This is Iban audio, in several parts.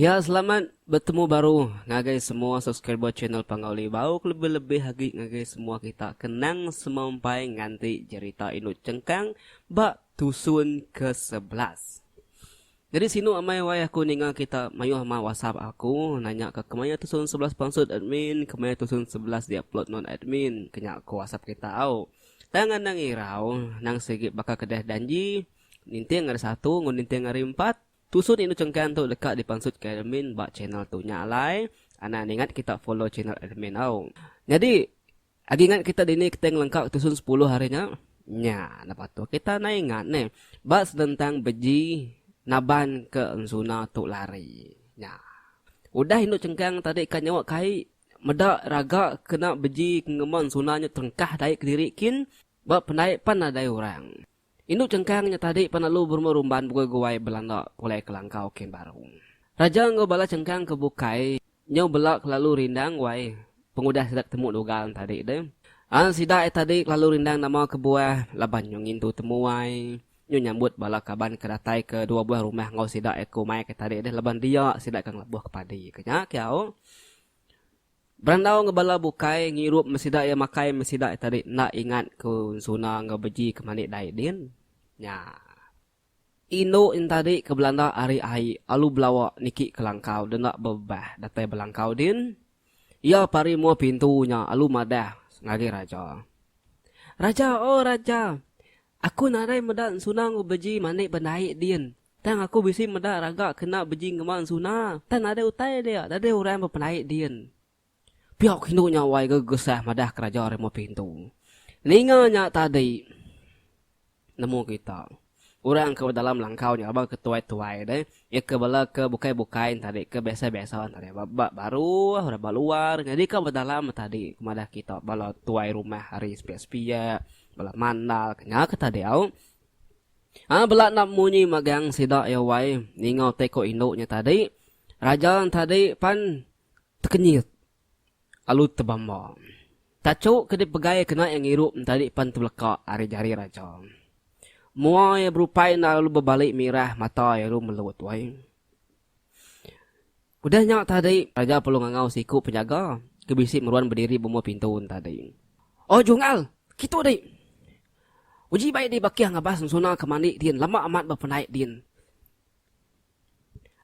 Ya selamat betemu baru ngagai semua subscriber channel Panggau Libau kelebih lebih agi ngagai semua kita ke nang semampai nganti jerita indu chengkang ba tusun ke sebelas. Nyadi sinu amai wai aku ninga kita mayuh ma whatsapp aku nanya ka kemaya tusun sebelas pansut admin kemaya tusun sebelas di upload non admin kenya ko whatsapp kita au. Tang anang irau nang sigi baka kedeh danji ninting ari satu enggau ninting ari empat tusun indu chengkang tu deka di pansut ka admin ba channel tu nya alai anang ningat kita follow channel admin au. Nyadi. Agi ingat kita dini kita ngelengka ke tusun sepuluh hari nya? Nya, napa tu kita nai ingat neh. Ba senentang beji naban ke ensuna tu lari. Nya. Udah indu chengkang tadi ka nyawa kai meda raga kena beji ke ngemban ensuna nya terengkah dai kediri kin ba pendai pan nadai orang. Indu Chengkang nya tadi pan lalu berumah rumban pegui guai belanda pulai ke langkau kem baru. Raja enggau bala Chengkang ke bukai nyau bela kelalu rindang guai pengudah sida ketemu Dugal nya tadi deh. An sida ai tadi kelalu rindang nama kebuah laban nyau ngintu temu ai, nyau nyambut bala kaban ke datai ke dua buah rumah enggau sida ai ke umai ke tadi deh laban dia sida ke ngelebuh ke padi ke nya kiau. Berandau enggau bala bukai ngirup meh sida iya makai meh sida iya tadi enda ingat ke ensuna enggau beji ke mani dai din nya. Indu nya tadi ke belanda ari ai alu belawa niki ke langkau denda bebebah datai belangkau din iya pari mua pintu nya alu madah ngagai raja. Raja oh raja aku nadai meda ensuna enggau beji mani ba dai din. Tang aku bisi meda raga kena beji ngemban suna, tang nadai utai dia, nadai orang bepelai din. Pia ke indu nya wai gegesah madah ke raja rimau pintu. Ninga nya tadi nemu kita. Orang ke bedalam langkau nya laban ke tuai-tuai deh. Iya ke bala ke bukai-bukai nya tadi ke biasa-biasa nya tadi ba baru orang ba luar nyadi ka bedalam nya tadi ke madah kita bala tuai rumah ari sepiak-sepiak bala mandal ke nya ke tadi au. Aa bela enda munyi magang sida iya wai ninga utai ko indu nya tadi. Raja tadi pan tekenyit alu tebamba. Tachu ke dipegai kena iya ngirup tadi pan tebeleka ari jari raja. Mua iya berupai enda lalu bebali mirah mata iya lu melut wai. Udah nya tadi, raja perlu ngangau siku penyaga ke bisi meruan bediri bemua pintu nya tadi. Oh Jungal, kitu dih. Uji bai dih bakih ngabas ensuna ke mandi din lama amat ba pendai din.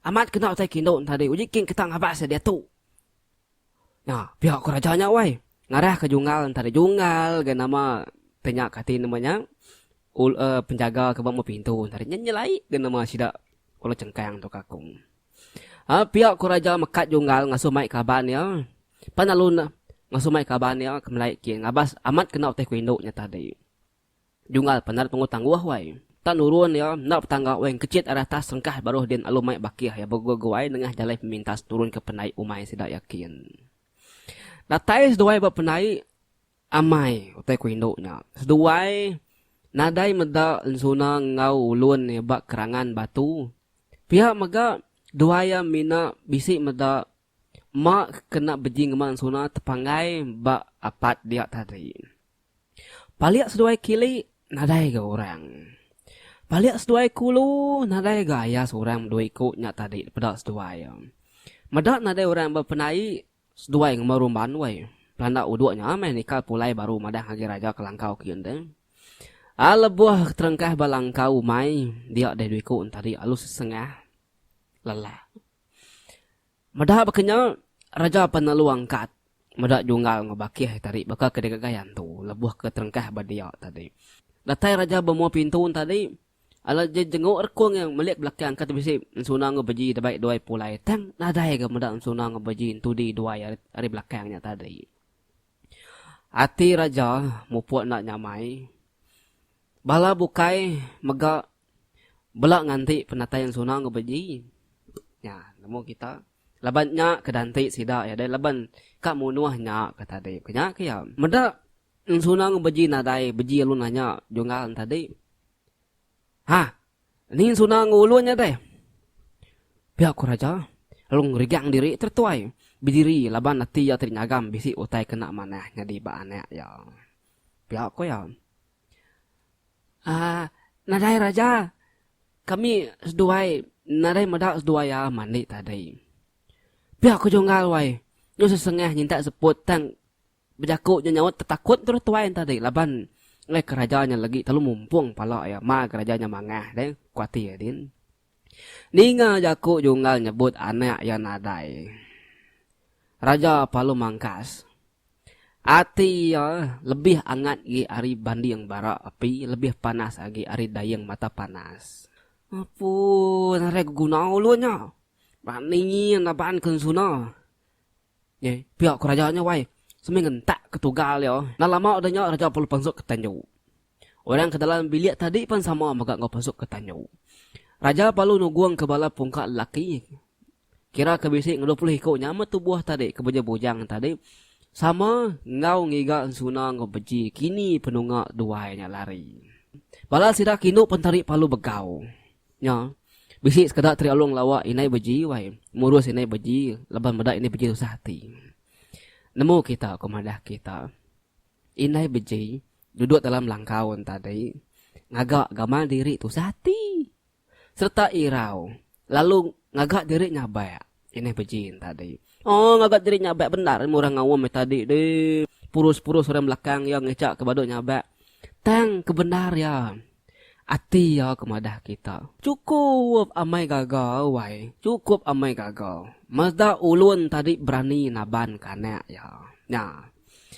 Amat kena utai kindu nya tadi, uji king kita ngabas iya diatu. Nya, pia ko raja nya wai. Ngarah ke Jungal nya tadi. Jungal ga nama te nya kati nama nya ul eh penjaga ke ba mua pintu nya tadi. Nya nyelai ga nama sida Ulu Chengkang tu ka ku. Aa pia ku Raja Mekat Junggal ngasuh mai kaban iya. Pan lalu ne ngasuh mai kaban iya ke melai kin ngabas amat kena utai ku indu nya tadi. Junggal penat tunggu tangguh wai. Tan nurun iya enda betangga wai engkechit ari atas serengkah baruh din alu mai bakih iya beguai-guai nengah jalai pemintas nurun ke penai umai sida iya kin. Datai seduai ba penai. Amai, utai ku indu nya. Seduai, nadai meda ensuna enggau ulun iya ba kerangan batu. Pia mega, dua iya mina bisi meda ma kena beji ngema ensuna tepanggai ba apat dia tadi. Palik seduai kili, nadai ga orang. Palik seduai kulu, nadai ga ayas orang bedui ku nya tadi dipeda seduai iya. Meda nadai orang ba penai, Seduai Ngema Rumban wei. Pelanda uduk nya meh nikal pulai baru madah ngagi raja ke langkau ke giun deh. A lebuh terengkah ba langkau umai dia deh dui ku entadi alu sesengah lela. Meda baka nya Raja Penelu Angkat meda junggal enggau Bakih entadi baka ke digagai antu lebuh ke terengkah ba dia tadi. Datai raja bemua pintu entadi. Alah je jenguk rekung iya melik belakang engka te bisi ensuna enggau beji dabai duai pulai tang nadai ga meda ensuna enggau beji entudi duai ari belakang nya tadi. Ati Raja mupuk enda nyamai. Bala bukai mega bela nganti penatai ensuna enggau beji. Nya nemu kita laban nya ke da enti sida iya deh laban ka munuh nya ka tadi. Ku nya ke iya. Meda Ensunang beji nadai beji alu nanya Junggal enti tadi. Ha. Ni ensunang ulun nya deh. Pia ku Raja lalu ngerigang diri tertuai bediri laban ati iya tadi nyagam bisi utai kena manah nyadi ba anak iya. Pia ku iya. Aa nadai Raja. Kami seduai nadai meda seduai iya mandi tadi. Pia ku Junggal wai. Nyu sesengah nyintak seput tang Bejaku nya nyaut tetakut terus tuai enta deh laban enggai ke raja nya legi telalu mumpung pala iya ma ke raja nya mangah deh ku ati iya din. Ninga jaku Junggal nyebut anak iya nadai. Raja Palu Mangkas. Ati iya lebih angat agi ari banding bara api lebih panas agi ari dayeng mata panas. Apu nadai ke guna ulun nya. Ba ningi enda baan ke ensuna. Ye, pia ku raja nya wai. Semai ngentak ke tugal iya. Enda lama udah nya raja perlu pansut ke tanyu. Orang ke dalam bilik tadi pan sama mega enggau pansut ke tanyu. Raja palu nugong ke bala pungka lelaki kira ke bisi ngedu puluh iku nya me tubuh tadi ke beja bujang tadi sama enggau ngiga ensuna enggau beji kini penunga duai nya lari. Bala sida ke indu pentari palu begau. Nya. Bisi sekeda Tri Along lawa indai beji wai. Murus indai beji laban meda indai beji tusah ati. Nemu kita ko madah kita. Indai beji duduk dalam langkau entadi ngaga gamal diri tusah ati sereta irau lalu ngaga diri nyabak. Kinih Pejin tadi. Oh ngaga diri nyabak bendar ilmu orang ngawam ai tadi di. Purus-purus orang belakang iya ngicha ke badu nyabak. Tang ke bendar iya. Ati iya ke madah kita. Chukup amai gaga wai. Chukup amai gaga. Meda ulun tadi berani naban ke anak iya. Nya.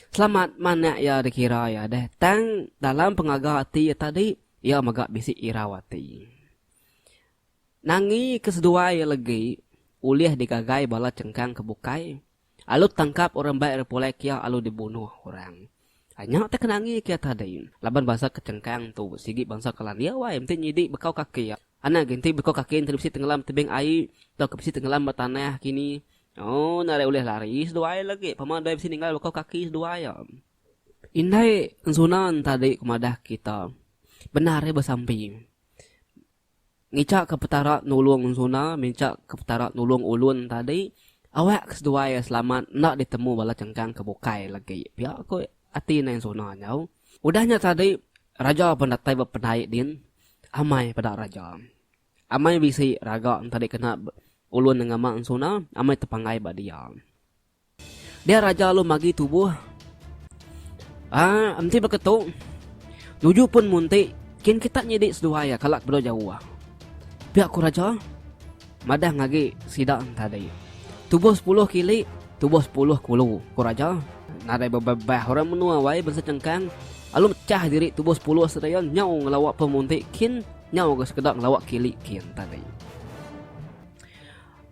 Selamat ma anak iya dikira iya deh. Tang dalam pengaga ati iya tadi iya mega bisi irau ati. Nangi ke seduai iya legi ulih digagai bala chengkang ke bukai alu tangkap orang bai repulai kia alu dibunuh orang. Anya te ke nangi kia tadi laban bansa ke chengkang tu sigi bansa ke landik awai enti nyidi bekau kaki anak agi enti bekau kaki enti bisi tengelam tebing ai tauka bisi tengelam ba tanah kini ooh nadai ulih lari seduai legi pama dai bisi ninggal bekau kaki seduai iya. Indai ensuna ntadi ke madah kita bendar iya besampi. Ngicha ke Petara nulung Zuna mincha ke Petara nulung ulun tadi awak ke seduai selamat enda ditemu bala cengkang ke bukai lagi pia ku ati nai Zuna nyau. Udah nya tadi raja pun datai bependai din amai peda raja. Amai bisi raga enti dikena ulun ngama Zuna amai tepanggai ba dia. Dia raja alu magi tubuh. Ah, enti beketu, nuju pun munti, kin kita nyidi seduai iya kala kebuda jauh ah. Pia ku raja madah ngagi sida tadi. Tubuh sepuluh kili, tubuh sepuluh kulu, ku raja. Nadai bebebah orang menua awai bansa Chengkang alu mechah diri tubuh sepuluh sedia nyau ngelawa pun munti kin nyau ga sekeda ngelawa kili kin tadi.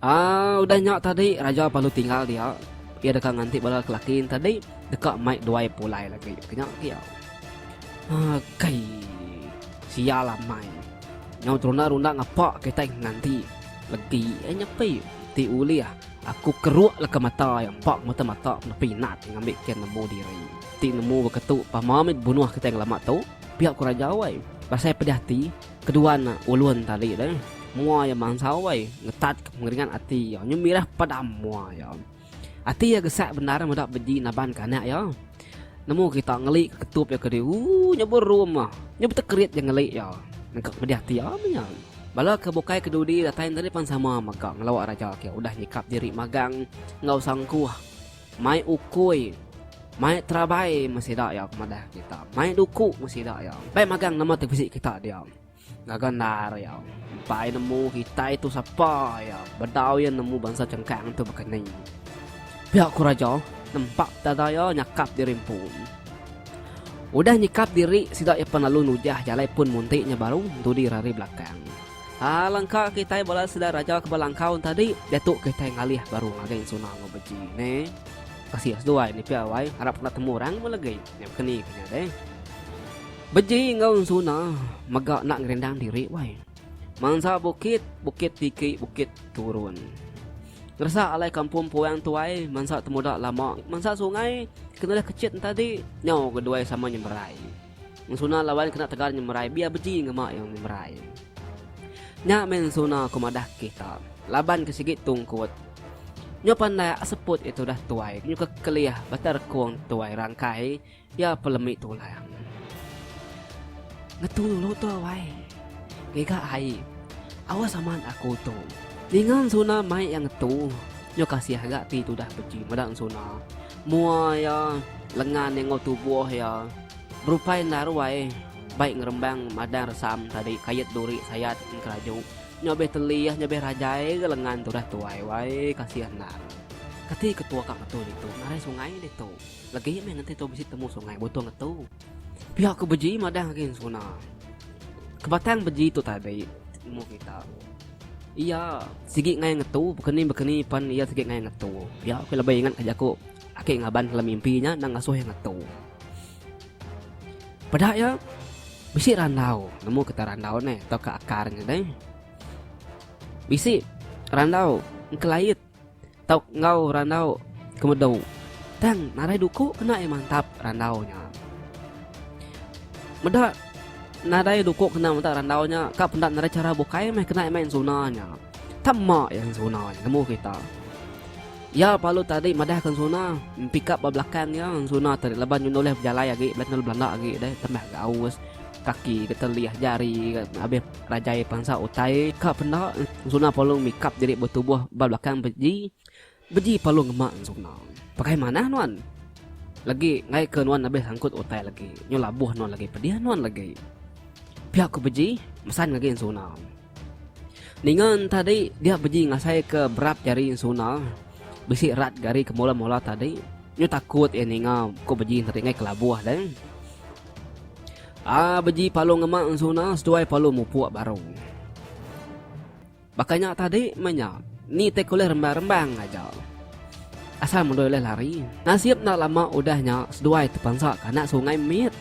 Aa udah nya tadi raja perlu tinggal dia. Iya deka nganti bala lelaki nya tadi deka mai duai pulai lagi ke nya agi au. Aa kai sial amai. Nyau terunda-runda ngapa kitai nganti legi ai nyepi ti ulih aku keruk leka mata iya empa ke mata mata kena pinat ngambi ke nemu diri. Ti nemu beketu pama mih bunuh kitai ngelama tu pia ku raja wai. Pasai pedih ati. Kedua nya ulun tadi deh. Mua iya mansau wei, ngetatka pengeringat ati iya nyu mirah padam mua iya. Ati iya gesak bendar meda beji naban kanak iya. Nemu kita ngeli ke ketup iya kedi ooh nya berum ah. Nya betekerit ja ngeli iya nengkak pedih ati iya meh nya. Bala ke bukai ke dudi datai tadi pan sama mega ngelawa raja ke udah nyikap diri magang enggau sangkuh Mai ukui, mai terabai meh sida iya ke madah kita. Mai duku meh sida iya. Bai magang nama ti bisi kita dia. Gaga endar iya. Empai nemu kitai tu sapa iya. Bedau iya nemu bansa chengkang tu baka ni. Pia ku raja nempak dada iya nyakap diri empu. Udah nyikap diri sida iya pan lalu nujah jalai pun munti nya baru entudi rari belakang. Alangka kitai bala sida raja ke belangkau tadi diatu kitai ngalih baru ngagai Ensuna enggau Beji neh. Kasih seduai ni pia wai harap enda temu orang pun legi nya bekeni ke nya deh. Beji enggau Ensuna mega enda ngerindang diri wai. Mansa bukit, bukit tiki, bukit turun. Ngeresa alai kampung empu orang tuai mansa temuda lama, mansa sungai ke nulih kecit tadi nyau ke duai sama nyeberai. Ensuna lawan kena tegal nyemerai biar beji ngema iya nyemerai. Nya meh ensuna aku madah kita. Laban ke sigi tungkut. Nyo pandai ak seput itu dah tuai nyuka kelih bata rekung tuai rangkai iya pelemi tulang. Ngetu dulu tu wai. Giga ai. Awas amat aku tu. Ninga ensuna mai iya ngetu. Nyo kasih ga ti tudah beji meda ensuna. Mua iya lengan enggau tubuh iya berupai naruai bai ngerembang madang resam tadi kait duri sayat engkeraju. Nya beh telih nya beh rajai ga lengan tu dah tuai wai kasih endang. Kati ketua ka ngetu ditu ngarai sungai ditu. Legi meh ngenti tu bisi temu sungai butung ngetu. Pia ku beji madah gin sona. Kebatang beji tu tabi umur kita. Iya sigi ngai ngetu bekeni bekeni pan iya sigi ngai ngetu. Pia ku lebih ingat ka jaku aki ngaban dalam mimpi nya endang ngasuh iya ngetu. Peda iya bisi randau nemu kita randau ne tauka akar ne deh. Bisi randau engkelait. tau enggau randau ke medu tang nadai duku kena iya mantap randau nya. Meda nadai duku kena mantap randau nya ka peda nadai chara bukai meh kena iya main suna nya. Tang mak iya main suna nya nemu kita. Iya palu tadi madahka suna pick up ba belakang iya suna tadi laban iya nulih bejalai agi belajar nulih belanda agi deh tambah gaus. Kaki ke telih jari ke abih rajai pensa utai ka penda ensuna Palung mikap diri betubuh ba belakang beji. Beji Palung ngema ensuna. Pakai manah nuan. Legi enggai ke nuan abih sangkut utai legi. Nyau labuh nuan legi pedih nuan legi. Pia ku beji mesan ngagai ensuna. Ninga tadi dia beji ngasai ke berap jari ensuna bisi rat jari ke mola-mola tadi. Nyau takut iya ninga ku beji tadi enggai ke labuh deh. A beji palu ngema ensuna seduai palu mupuk baru. Baka nya tadi meh nya. Ni tik ulih rembang-rembang aja. Asal mendoi ulih lari. Nasib enda lama udah nya seduai tepansa ke anak sungai mit.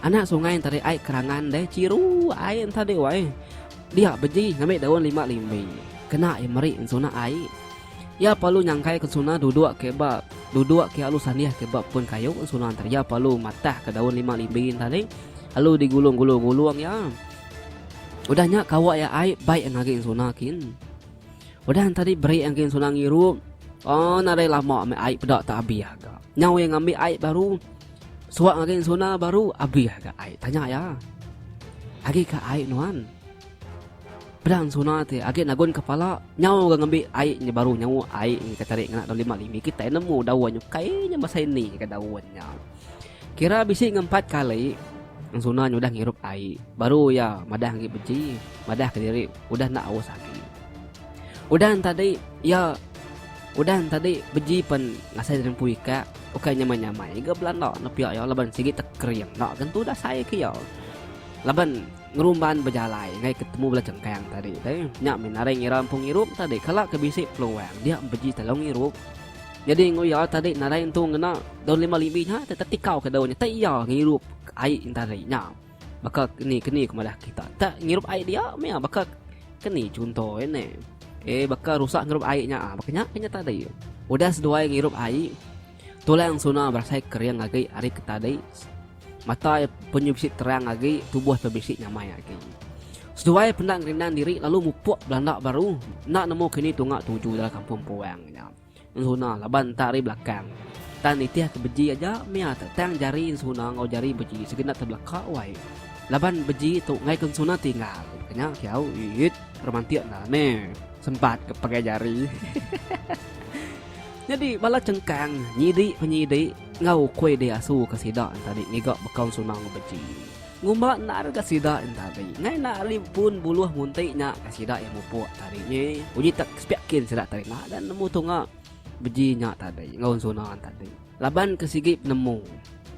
Anak sungai entari ai kerangan deh chiru ai entadi weh. Dia beji ngambi daun lima limbi kena iya meri ensuna ai. Iya palu nyangkai ke ensuna duduk ke ba duduk ke alu sandih ke ba pun kayu ensuna enter iya palu matah ke daun lima limbi enta ni alu di gulung gulung gulung iya. Udah nya kawa iya ai bai ngagai ensuna kin. Udah enta di beri ngagai ensuna ngirup oh nadai lama meh ai peda tak abih ga. Nyau iya ngambi ai baru suak ngagai ensuna baru abih ga ai tanya iya. Agi ka ai nuan. Pedang Suna ti agi nagun kepala nyau ga ngambi ai nya baru nyau ai nya ke tari ngena daun lima limi kitai nemu daun nya kai nya masai ni ka daun nya. Kira bisi ngempat kali Nang Suna nya udah ngirup ai baru iya madah agi beji madah ka diri udah enda aus agi. Udan tadi iya udan tadi beji pen ngasai diri empu ikak ukai nyamai nyamai ga belanda nepia iya laban sigi tekering enda tentu dasai ke iya laban Ngerumban bejalai enggai ke temu bela cengkang tadi te nya mih naring ira empu ngirup tadi kala ke bisi peluang dia empeji telo ngirup nyadi enggau iya tadi naring tu ngena daun lima limi nya te tetikau ke daun nya te iya ngirup ai tadi nya baka keni keni ke madah kita te ngirup ai dia mia baka keni chunto e ne e baka rusa ngirup ai nya baka nya ke nya tadi udah seduai ngirup ai tulang suna berasai kering agi ari ke tadi. Mata iya penyu bisi terang agi, tubuh pe bisi nyamai agi. Seduai penda ngerindang diri lalu mupuk belanda baru enda nemu kini tunga tuju dalam kampung puang nya. Ensuna laban enta ari belakang. Tang nitih ke beji aja mia te tang jari ensuna enggau jari beji sigi enda tebelaka wai. Laban beji tu ngaika ensuna tinggal. Ke nya kiau iyit romantik enda meh sempat ke pegai jari. Nyadi bala chengkang nyidi penyidik. Enggau ukui di asu ke sida entadi ngiga bekau sunang ngebenci. Ngumba endar ga sida entadi. Ngai enda ari pun buluh munti nya ga sida iya mupuk tadi nyi. Uji tak sepiak kin sida tadi enda ga nemu tunga beji nya tadi enggau ensuna entadi. Laban ke sigi penemu.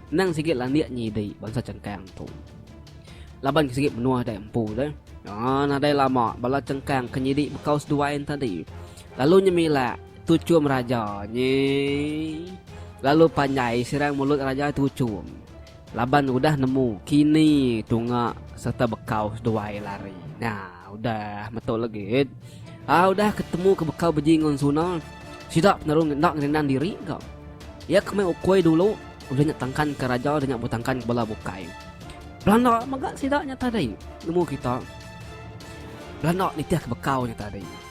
Endang sigi landik nyidi bansa chengkang tu. Laban ke sigi menua dai empu deh. Nya nadai lama bala chengkang ke nyidi bekau seduai entadi lalu nyemilak. Tuchum raja nyi lalu panjai sirang mulut raja tuchum laban udah nemu kini tunga serta bekau seduai lari nah udah metu legit aa udah ketemu ke bekau beji ngan suna sida peneru enda ngerindang diri ga iya ke meh ukoi dulu udah nya tangkan ke raja udah nya betangkan ke bala bukai belanda mega sida nya tadi nemu kita belanda nitih ke bekau nya tadi.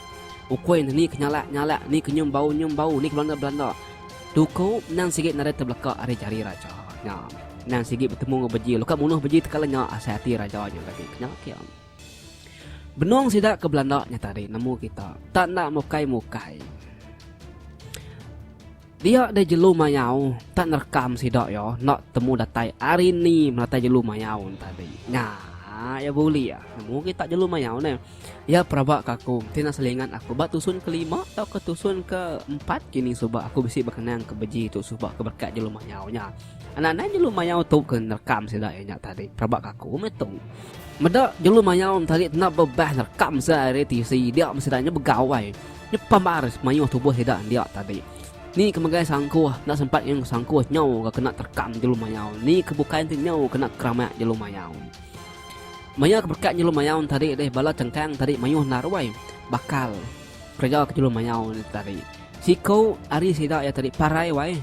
Ukui ne ni ke nyalak nyalak ni ke nyum bau nyum bau ni ke belanda belanda. Tuku endang sigi nadai tebeleka ari jari raja nya. Endang sigi betemu enggau beji lalu ka munuh beji tekala nya asai ati raja nya tadi ke nya ke. Benung sida ke belanda nya tadi nemu kita tak enda mukai mukai. Dia deh jelu mayau tak nerekam sida iya enda temu datai ari ni meratai jelu mayau ne tadi. Nya iya bulik ah nemu agi tak jelu mayau ne. Iya peraba ke aku mesti enda selingat aku ba tusun ke lima tauka tusun ke empat kini suba aku bisi bekenang ke beji tu suba ke berkat jelu mayau nya. Anak nai jelu mayau tu ke nerekam sida iya nya tadi peraba ke aku meh tu. Meda jelu mayau ne tadi enda bebas nerekam sida ari tv dia meh sida nya begawai. Nyepam ba aris mayuh tubuh sida dia tadi. Ni ke megai sangkuh enda sempat nginum sangkuh nyau ga kena terkam jelu mayau ni ke bukai enti nyau kena keramak jelu mayau. Maya ke berkat jelu mayau tadi deh bala cengkang tadi mayuh enda ruai bakal kereja ke jelu mayau ne tadi. Siku ari sida iya tadi parai wai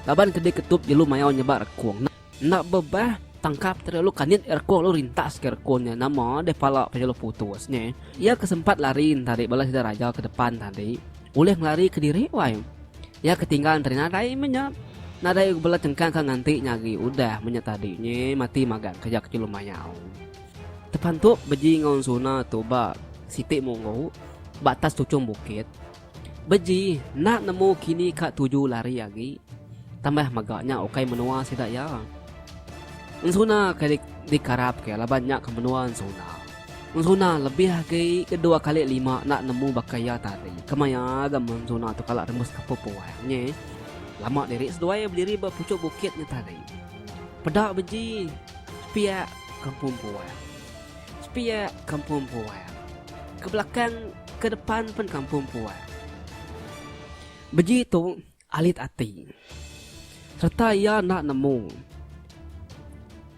laban ke diketup jelu mayau nyebak rekung. Enda bebah, tangkap tadi lalu kanit Erko lalu rintas ke Erko nya nama deh pala pia lalu putus nya. Iya ke sempat lari entari bala sida raja ke depan tadi ulih ngelari kediri wai. Iya ke tinggal entari nadai meh nya. Nadai uga bala chengkang ke nganti nya agi udah meh nya tadi nya mati magang kereja ke jelu mayau. Tepantup beji enggau ensuna tu ba siti munggu ba atas tuchung bukit. Beji enda nemu kini ka tuju lari agi tambah mega nya ukai menua sida iya. Ensuna ke dikarap ke laban nya ke menua ensuna. Ensuna lebih agi ke dua kali lima enda nemu baka iya tadi ke maya ga ensuna tu kala rembus kapu puang nyi. Lama diri seduai bediri ba puchok bukit nya tadi. Peda beji piak kampung puang. Sepia kampung puang. Ke belakang, ke depan pen kampung puang. Beji tu alit ati. Sereta iya enda nemu.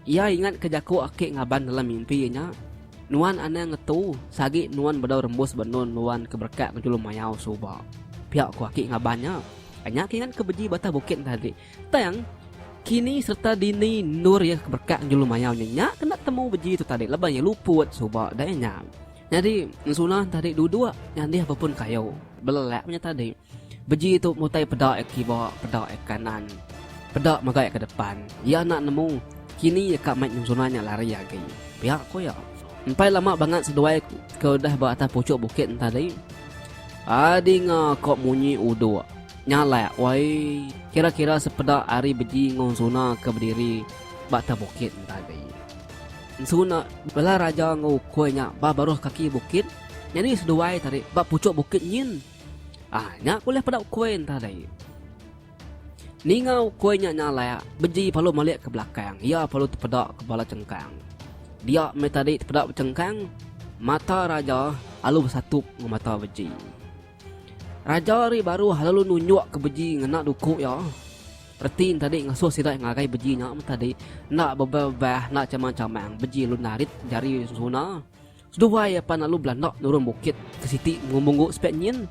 Iya ingat ke jaku aki ngaban dalam mimpi iya nya, Nuan anang ngetu sagi nuan bedau rembus benun nuan ke berekak ngejulum mayau suba. Pia ku aki ngaban nya. Nya ke ingat ke beji batah bukit tadi. Tang, kini serta dini endur iya ke berekak enggau julu mayau nya nya ke enda temu beji tu tadi laban iya luput suba dai nya. Nyadi Sunah tadi duduk nyandih bepun kayu belelak nya tadi. Beji tu mutai peda iya ke kiba peda iya ke kanan peda mega iya ke depan. Iya enda nemu kini iya ka mai nyengum Sunah nya lari agi pia ku iya. Empai lama bangat seduai ke udah ba atas puchuk bukit nya tadi, Adinga ka munyi uduk. Nyalak wai, kira-kira sepeda ari beji enggau ensuna ke bediri ba atas bukit enda agi. Ensuna bela raja enggau ukui nya ba baruh kaki bukit nyadi seduai tadi ba puchuk bukit nyin. Ah nya ke ulih peda ukui enda agi. Ninga ukui nya nyalak, beji palu malik ke belakang iya palu tepeda ke bala chengkang. Dia meh tadi tepeda bechengkang, mata raja alu besatup enggau mata beji. Raja ari baru lalu nunjuk ke beji ngena duku iya. Reti enti tadi ngasuh sida ngagai beji nya meh tadi enda bebah-bebah enda chamang-chamang beji lalu narit jari sesuna. Seduai iya pan lalu belanda nurun bukit ke siti mengumbu sepit nyin.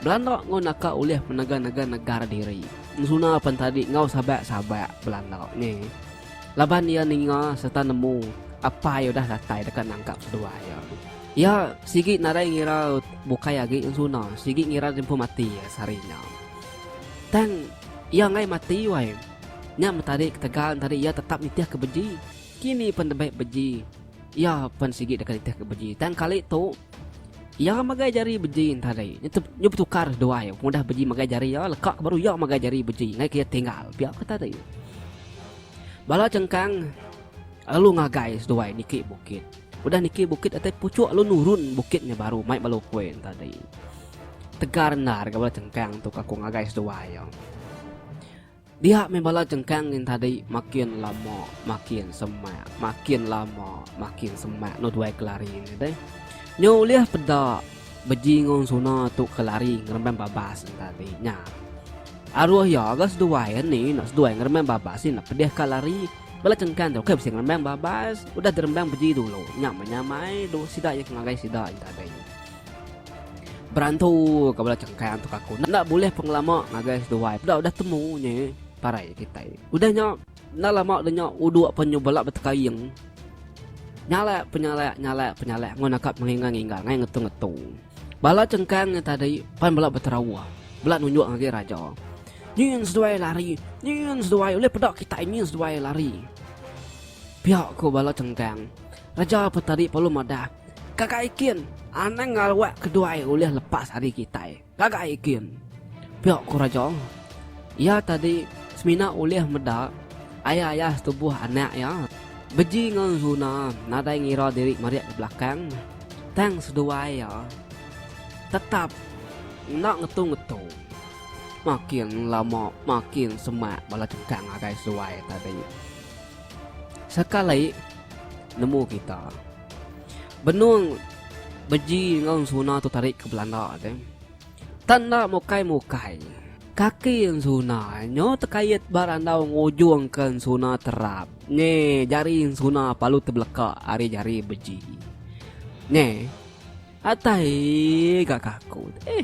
Belanda enggau naka ulih menega-nega negara diri. Sesuna pan tadi enggau sabak-sabak belanda nyi laban iya ninga sereta nemu apai udah datai deka nangkap seduai iya. Iya sigi nadai ngira bukai agi ensuna, sigi ngira diempu mati sehari nya. Tang iya enggai mati wai. Nya meh tadi ketegal entadi iya tetap nitih ke beji. Kini pen debei beji, iya pen sigi deka nitih ke beji. Tang kali tu iya magai jari beji entadi. Nya betukar seduai pengudah beji magai jari iya leka ke baru iya magai jari beji enggai ke iya tinggal pia ke tadi. Bala chengkang lalu ngagai seduai niki bukit. Udah niki bukit datai puchuk lalu nurun bukit nya baru mai bala ukui nya tadi. Tegar endar ga bala chengkang tu ka aku ngagai seduai iya. Dia meh bala chengkang nyin tadi makin lama makin semak, makin lama makin semak enda duai ke lari nya deh. Nyu ulih peda beji enggau suna tu ke lari ngeremban babas nya tadi nya. Aruh iya ga seduai iya ni enda seduai ngeremban babas enda pedih ka lari. Bala cengkang tu ke bisi ngerembang babas udah dirembang beji dulu nya menyamai dulu sida iya ke ngagai sida inta hari ini. Berantu ke bala cengkang tu ke aku enda bulih pengelama ngagai seduai peda udah temu nya parai kitai. Udah nya enda lama udah nya uduk penyubelak betekaing. Nyalak penyalak nyalak penyalak ngun akak mengingang ingang ngai ngetu ngetu. Bala cengkang nya tadi pan bela beterawah bela nunjuk ngagai raja. Nyin seduai lari, nyin seduai ulih peda kitai nyin seduai lari. Pia ku bala cengkang. Raja Petari Palui madah, Kaga ikin, anang ngalwak keduai ulih lepas ari kitai. Kaga ikin. Pia ku raja. Iya tadi semina ulih meda ayah-ayah setubuh anak iya, Beji enggau Zuna nadai ngira diri marik ke belakang, tang seduai iya tetap enda ngetu-ngetu. Makin lama makin semak bala cengkang agai suai tadi. Sekali nemu kita. Benung beji enggau suna tu tadi ke belanda te. Tanda mukai-mukai. Kaki suna nyo tekait ba randau ngujung ke suna terap. Nge jari suna palu tebeleka ari jari beji. Nge. Atai ga ke aku eh.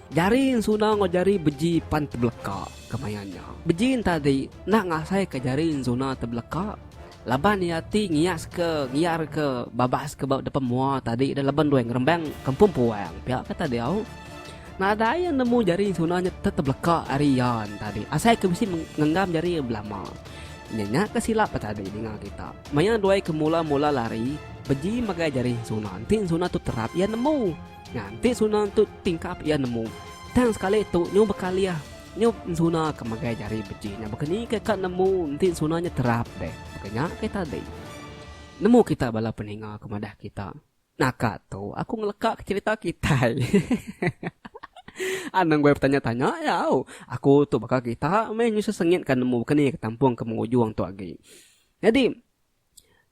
Jari ensuna enggau jari beji pan tebeleka ke maya nya. Beji entadi enda ngasaika jari ensuna tebeleka laban iya ti ngiaska ngiarka babas ke ba depan mua tadi ida laban doi ngerembang kampung puang pia ke tadi au. Nadai iya nemu jari ensuna nya tetebeleka ari iya entadi asai ke bisi ngenggam jari iya belama. Nya nya ke silap tadi ninga kita. Maya Duai ke mula-mula lari, beji megai jari ensuna enti ensuna tu terap iya nemu. Nganti ensuna tu tingkap iya nemu. Tang sekali tu nyu bekalih, nyu ensuna ke megai jari beji nya bekenika ka nemu enti ensuna nya terap deh. Baka nya kai tadi. Nemu kita bala peninga ke madah kita. Naka tu aku ngeleka ke cerita kitai. Anang goi betanya-tanya iya au. Aku tu baka kita meh nyusah sengit ka nemu baka ni ke tampung ke mengujung tu agi. Nyadi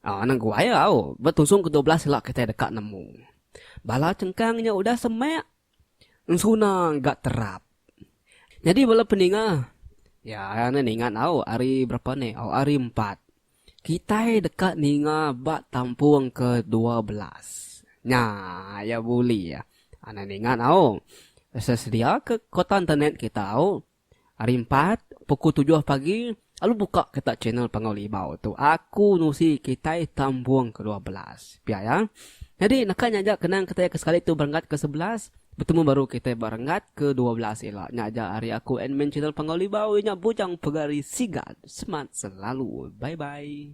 ah, anang goi au betusung ke dua belas ila kitai deka nemu. Bala chengkang nya udah semak Ensuna ga terap. Nyadi bala peninga ya ne ninga nau hari berapa ne oh hari empat kitai deka ninga ba tampung ke dua belas nya ya bully ya. Ninga nau sesedia ke kota internet kitai. Hari Empat, pukul tujuh pagi, lalu buka kita channel Pangau Libau tu. Aku nusi kitai tambung ke dua belas. Pia ya. Nyadi naka nya aja kenang kitai ke sekali tu berenggat ke sebelas, betemu baru kitai ba renggat ke dua belas ila. Nya aja ari aku admin channel Pangau Libau iya nya Bujang Pegari Sigat. Semat selalu. Bye bye.